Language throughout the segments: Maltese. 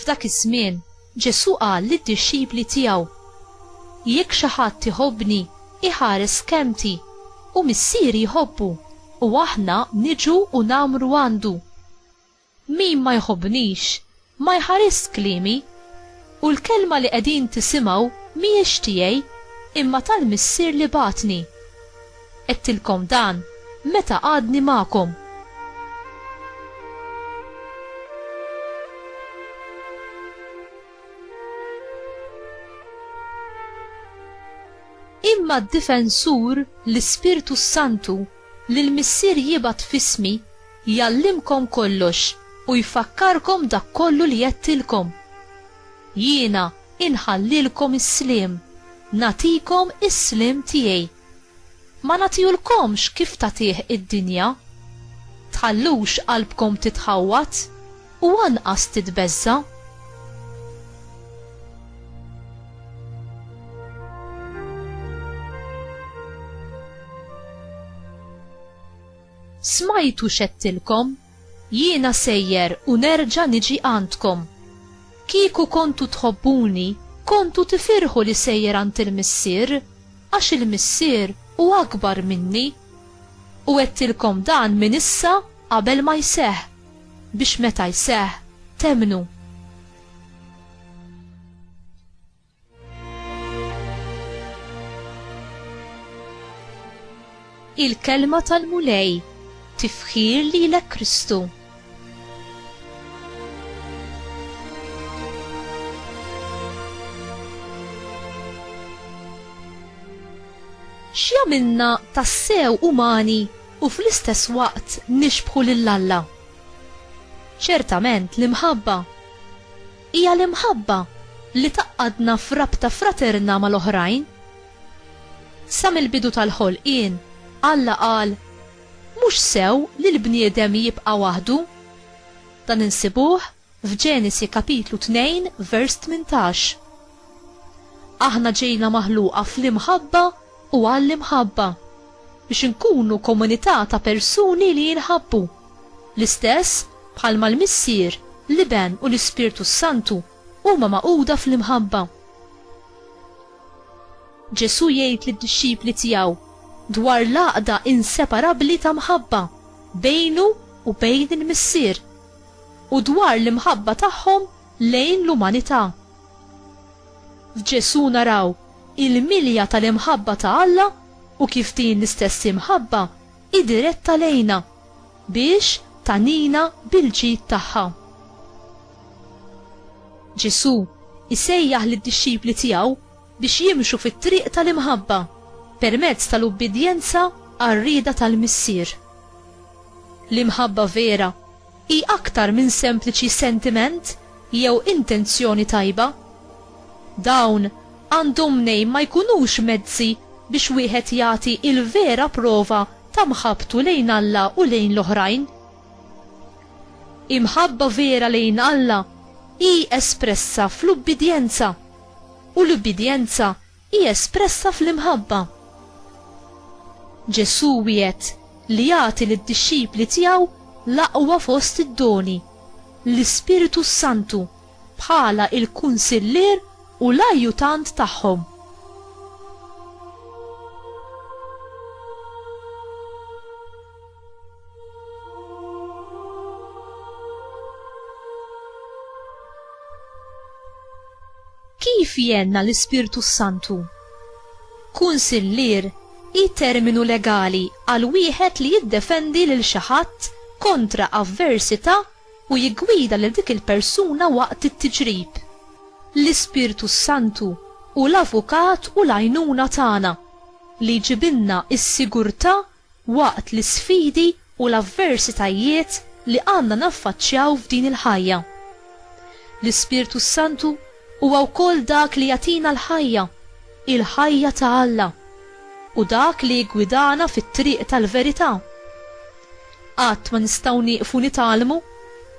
F'dak iż-żmien, Ġesù qal lid-dixxipli tiegħu, Jekk xi ħadd iħobbni, iħares kelmti, u Missieri jħobbu, u aħna niġu u nagħmru għandu. Min ma jħobbnix, ma jħarisx kliemi, u l-kelma li qegħdin tisimgħu mhijiex tiegħi, imma tal-Missier li bagħatni. Għedtilkom dan meta għadni magħkom. Imma d-Difensur, l-Ispirtu s-Santu, li l-Missier jibgħat f'ismi, Jgħallimkom kollox u jfakkarkom dak kollu li għedtilkom. Jiena inħallilkom is-sliem, nagħtikom is-sliem tiegħi. Ma nagħtihulkomx kif tagħtih id-dinja. Tħallux qalbkom titħawwad u anqas titbeżża'. Smajtu x'għedtilkom, Jiena sejjer u nerġa' niġi għandkom. Kieku kontu tħobbuni, kontu tifirħu li sejjer għand il-Missier, għax il-Missier hu akbar minni. U għedtilkom dan minn issa qabel ma jseħħ, biex meta jseħħ, temmnu. Il-Kelma tal-Mulej, tifħir lilek Kristu. x'jagħmilna tassew umani u fl-istess waqt nixbħu lil Alla? Ċertament l-imħabba. Hija l-imħabba li tgħaqqadna f'rabta fraterna mal-oħrajn. Sa mill-bidu tal-ħolqien, Alla qal, Mhux sew li l-bniedem jibqa' waħdu. Dan insibuh f'Ġenesi kapitlu 2 vers tmintax. Aħna ġejna maħluqa fl-imħabba u għall-imħabba, biex inkunu komunità ta' persuni li jinħabbu, l-istess bħalma l-Missier, l-Iben u l-Ispirtu s-Santu huma magħquda fl-imħabba. Ġesù jgħid lid-dixxipli tiegħu dwar l-għaqda inseparabbli ta' mħabba bejnu u bejn il-Missier, u dwar l-imħabba tagħhom lejn l-umanità. F'Ġesù naraw il-milja tal-imħabba ta' Alla u kif din l-istess imħabba hi diretta lejna biex tagħnina bil-ġid tagħha. Ġesù jsejjaħ lid-dixxipli tiegħu biex jimxu fit-triq tal-imħabba permezz tal-ubbidjenza għar-rieda tal-Missier. L-imħabba vera Hi aktar minn sempliċi sentiment jew intenzjoni tajba. Dawn għandhom mnejn ma jkunux mezzi biex wieħed jagħti l-vera prova ta' mħabbtu lejn Alla u lejn l-oħrajn. Imħabba vera lejn Alla hi espressa fl-ubbidjenza, u l-ubbidjenza hi espressa fl-imħabba. Ġesù wiegħed li jagħti lid-dixxipli tiegħu l-aqwa fost id-doni, l-Ispirtu s-Santu, bħala il-kunsillier u l-ajjutant tagħhom. Kif jenna l-Ispirtu Santu? Kunsillier hi terminu legali għal wieħed li jiddefendi lil xi ħadd kontra avversità u jiggwida lil dik il-persuna waqt it-tiġrib. L-Ispirtu Santu hu l-avukat u l-għajnuna tagħna, li jġibilna s-sigurtà waqt l-isfidi u l-avversitajiet li għandna naffaċċjaw f'din il-ħajja. L-Ispirtu s-Santu huwa wkoll dak li jagħtina l-ħajja, il-ħajja ta' Alla, u dak li jiggwidana fit-triq tal-verità. Qatt ma nistgħu nieqfu nitgħallmu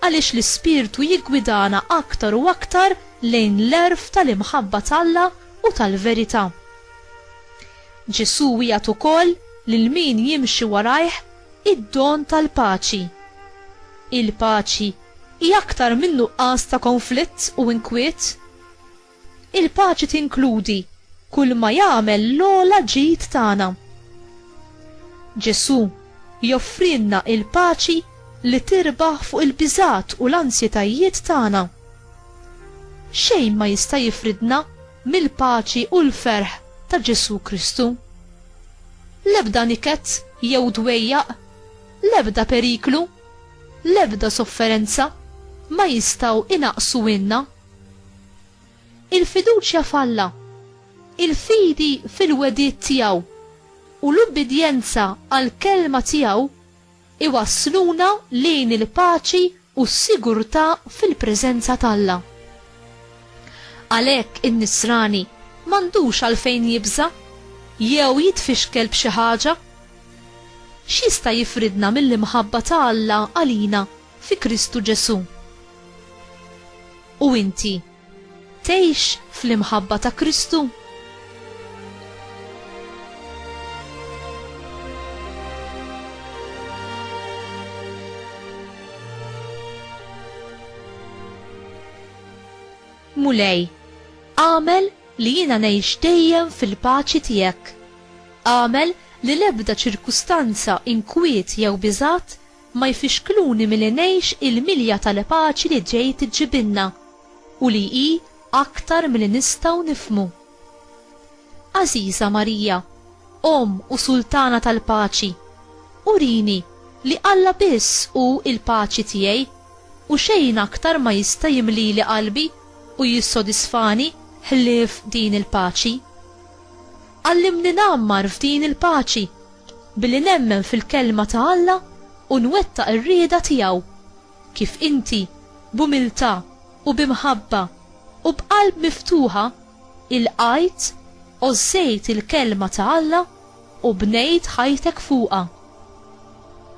għaliex l-Ispirtu jiggwidana aktar u aktar lejn l-għerf tal-imħabba t'Alla u tal-verità. Ġesù wiegħed ukoll lil min jimxi warajh id-don tal-paċi. Il-paċi hi aktar minn nuqqas ta' konflitt u inkwiet. Il-paċi tinkludi kull ma jagħmel l-ogħla ġid tagħna. Ġesù joffrilna l-paċi li tirbaħ fuq il-biżgħat u l-ansjetajiet tagħna. Xejn ma jista' jifridna mill-paċi u l-ferħ ta' Ġesù Kristu. L-ebda niket jew dwejjaq, l-ebda periklu, l-ebda sofferenza ma jistgħu inaqqsuhielna l-fiduċja f'Alla, il-fidi fil-wegħdiet tiegħu, u l-ubbidjenza għall-kelma tiegħu iwassluna lejn il-paċi u s-sigurtà fil-preżenza t'Alla. Għalhekk in-nisrani m'għandux għalfejn jibża' jew jitfixkel b'xi ħaġa. X'jista' jifridna mill-imħabba ta' Alla għalina fi Kristu Ġesù? U inti? Tgħix fl-imħabba ta' Kristu? Mulej, għamel li jiena ngħix dejjem fil-paċi tiegħek. Għamel li l-ebda ċirkustanza inkwiet jew biżgħat ma jfixkluni milli ngħix il-milja tal-paċi li ġejt iġġibilna u li hi aktar milli nistgħu nifhmu. Għażiża Marija, Omm u Sultana tal-Paċi, urini li Alla biss hu l-paċi tiegħi u xejn aktar ma jista' jimlili qalbi u jissodisfani ħlief din il-paċi. Għallimni ngħammar f'din il-paċi Billi nemmen fil-Kelma ta' Alla u nwettaq ir-rieda tiegħu. Kif inti, b'umiltà u bi mħabba u b'qalb miftuħa, ilqajt, għożżejt il-Kelma ta' Alla u bnejt ħajtek fuqha.